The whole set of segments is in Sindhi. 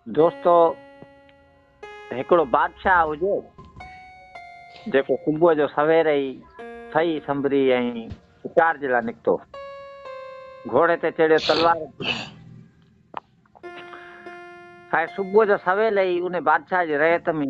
دوستو هڪڙو بادشاهه هجي جيڪو صبح جو سوير ئي ٿئي سنبري ۽ شڪار جي لاء نڪتو گھوڙي تي چڙهيو تلوار صبح جو سويل ئي ان بادشاهه جي ريت ۾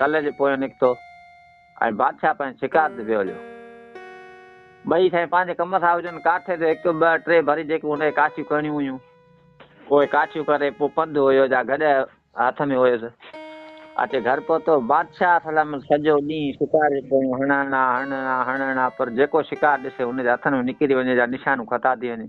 ڪلهه جي پويان نڪتو ۽ بادشاهه پنهنجي شڪار تي ويو هليو. ٻئي سائين پنهنجي ڪم سان هجن، ڪاٺي تي هڪ ٻه ٽي ڀري جيڪي هن کي ڪاٺيون ڪرڻيون هيون، اهي ڪاٺيون ڪري پوء پنڌ هيو جا گڏهه هٿ ۾ هيس. اچي گهر پهتو. بادشاهه سلامت سڄو ڏينهن شڪار جي پويان هڻڻ آ، هڻڻ آ، هڻڻ آ، پر جيڪو شڪار ڏسي هن جي هٿن ۾ نڪري وڃي جا نشانو خطا ٿي وڃي.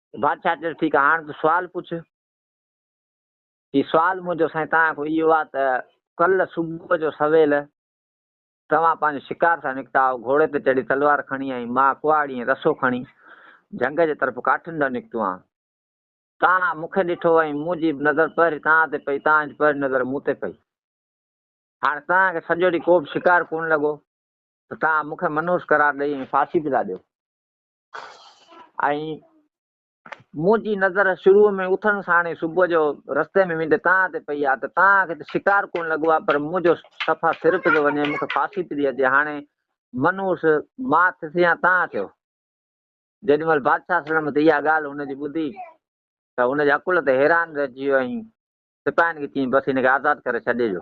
بادشاهه چيس، ٺيڪ آهي، هاڻ تون سوال پڇ. هي سوال منهنجو سائين توهان کان اهو آهي ته ڪلهه صبح جو سويل توهان پنهنجو شڪار سان نڪتا هئا، گهوڙي تي چڙهي تلوار کڻي ۽ مان ڪهاڙي ۽ رسو کڻي جهنگ جي طرف ڪاٺين ڏانهن نڪتو هئان. توهان مون کي ڏٺو ۽ منهنجي نظر پهرين توهان تي پئي، توهان جي پهرين نظر مون تي پئي. هاڻ توهان کي سڄو ڏينهن ڪوبه شڪار ڪونه لڳو ته توهان مون کي منحوس قرار ڏئي ۽ ڦاسي به ٿا ڏيو. ۽ منهنجي نظر شروع ۾ اٿڻ ساڻ ئي صبح جو رستي ۾ ويندي تان تي پئي آ ته تان کي ته شڪار ڪونه لڳو آ پر منهنجو صفا سر پيو وڃي مون کي ڦاسي پئي اچي هاڻي منهوس مان ٿيس يا تان ٿيو جيڏي مهل بادشاهه سلم ته اها ڳالهه هن جي ٻڌي ته هن جي عقل تي حيران رهجي ويو ۽ سپاهين کي چيائين بس هن کي آزاد ڪري ڇڏي جو